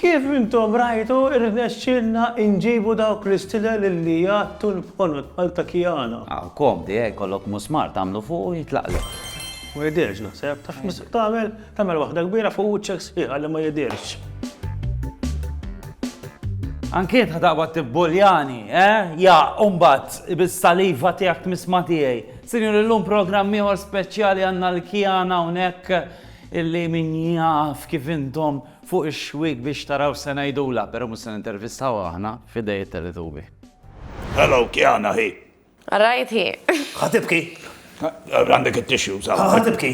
Kif intom rajtu irnexxilna inġibu dawk l-istilel li jgħattu l-ponot Malta Kiana. Aw, komdi, eh, kollok musmar tagħmlu fuq u jitlaqlek. Ma jidirx naħseb, taf mis tagħmel tagħmel waħda kbira fuq uċċek sħiħa li ma jidirx. Anki tħadaqba tibbuljani, eh? Ja, umbat, bis-saliva tiegħek tmisma tiegħi. Sinjuri illum programm ieħor speċjali għandna l-kjana hawnhekk illi min jaf kif intom fuq ix-xwiek biex taraw se ngħidulha, però mhux se nintervistawha aħna f'idej it-Teletubi. Hello Kjana hi. All right hi. Ħa tibki? Għandek it-tissues hawn. Ħa tibki?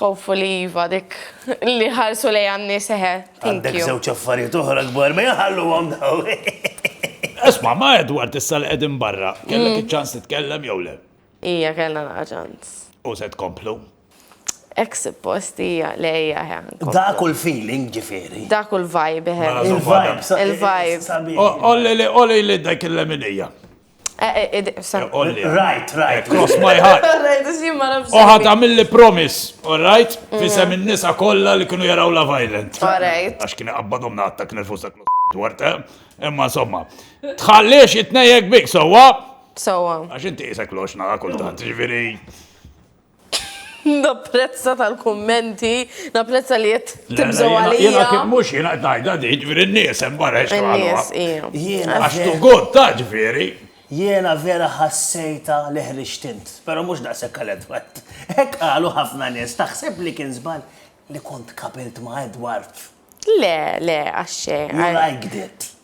Hopefully iva dik li ħarsu lejha n-nies eħe. Għandek żewġ affarijiet oħra kbar ma jaħalluhom daw. Isma' ma' Edward issa li qegħdin barra, kellek mm. iċ-ċans titkellem jew le? Ija kellna naqa' ċans. U se tkomplu? Ek suppost hija lejja ħan. Dak u l-feeling ġifieri. Dak u l-vibe ħen. Il-vibe. Il-vibe. Olli li olli li dak il-leminija. Right, right. Cross my heart. Oħat għamilli promis, all right? Mhm. Fisem il-nisa kolla li kienu jaraw la violent. All right. Għax kienu għabbadom natta kien il-fusta dwart, eh? imma somma. Tħalliex it-nejek bik, sowa? Sowa. Għax inti jisek lox naqa kultant, ġviri. Napprezza tal-kummenti, napprezza li qed tibżgħu għalija. Jiena kif mhux jiena qed ngħidha di, ġifieri n-nies hemm barra xi għamluha. Għax tu god ta' ġifieri. Jiena vera ħassejtha li ħriġt int, però mhux daqshekk għal Edward. Hekk qalu ħafna nies, taħseb li kien żball li kont tqabilt ma' Edward? Le, le, għax xejn. You liked it.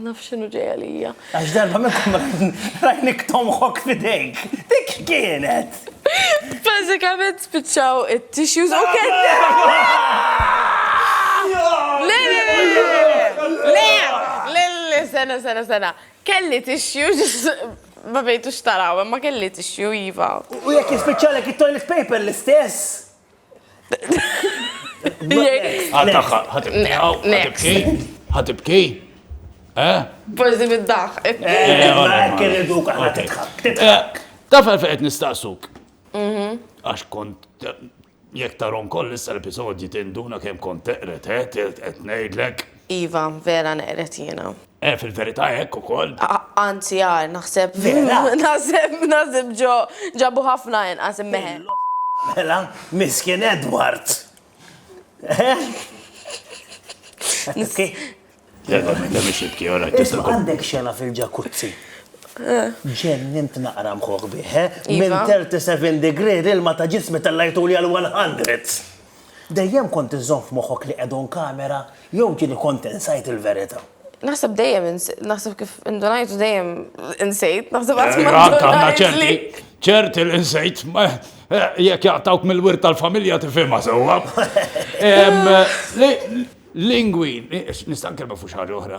Naf xinu ġej għalija. Għax darba minnkom rajnik tomħok fidejk. Dik kienet. Bazzikament spiċċaw it-tissues u kien. Le, le, le, le, le, sena, sena, sena. Kelli tissues ma bejtu xtaraw, ma kelli tissue jiva. U jek jispiċċalek it-toilet paper l-istess? Ħatibki? Eh? Forsi bid-daħ. Taf għal fejqet nistaqsuk. Mhm. Għax kont jek tarom koll issa l-episodji tinduna kem kont teqret, eh? Teqret nejdlek. Iva, vera neqret jena. Eh, fil-verità hekk ukoll. Anzi, għar, naħseb. Mela. Naħseb, naħseb ġo ġabu ħafna inqas immeħe. Mela, miskin Edward. Eh? Niski. Jalla, minn dem xibki, ora, tista' Għandek xena fil-ġakuzzi. Eh. Ġennint naqra mħuħ biħe, eh? iva. minn 37 degree il-ma ta' ġismi tal-lajtu li għal-100. Dejjem kont iżżomm f'moħħok li qegħdu nkamera jew ġieli kont insajt il-verità? Naħseb dejjem insejt, naħseb kif indunajt u dejjem insejt, naħseb qatt eh, ma ndunajtli. ċerti li insejt, eh, jekk jaqtawk mill-wirt tal-familja tifhimha sewwa. Eh, lingwi, nista' nkellmu fuq xi ħaġa oħra.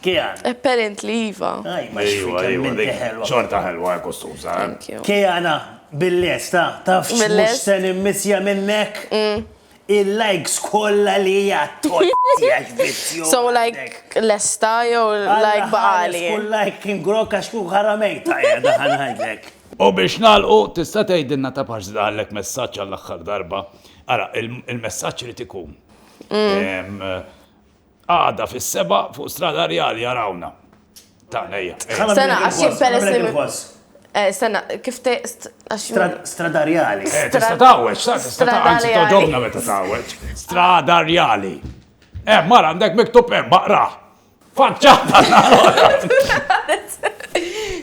Kean. Apparently iva. Ejwa, ejwa, dik xorta ħelwa kostuża. Keana, bil-lesta, tafx mhux se nimmissja minnek? Il-likes kollha li hija tgħotti għax vizzjuża. So like lesta jew like baqali? Kull like kien grokk għax kieku ħara mejta qiegħda ħa ngħidlek. U biex nagħlqu, tista' tgħidilna ta' pax żdallek messaġġ għall-aħħar darba. Ara, il-messaġġ irid ikun Għada fis-sebgħa fuq Strada Rjali arawna. Tagħna hija. Sena għax jien peress Sena, kif teqst għax. Strada Rjali. Eh, tista' tawweġ, sa tista' tawweġ. Toġobna meta tawweġ. Strada Rjali. Eh, mara għandek miktub hemm baqra. Faċċata.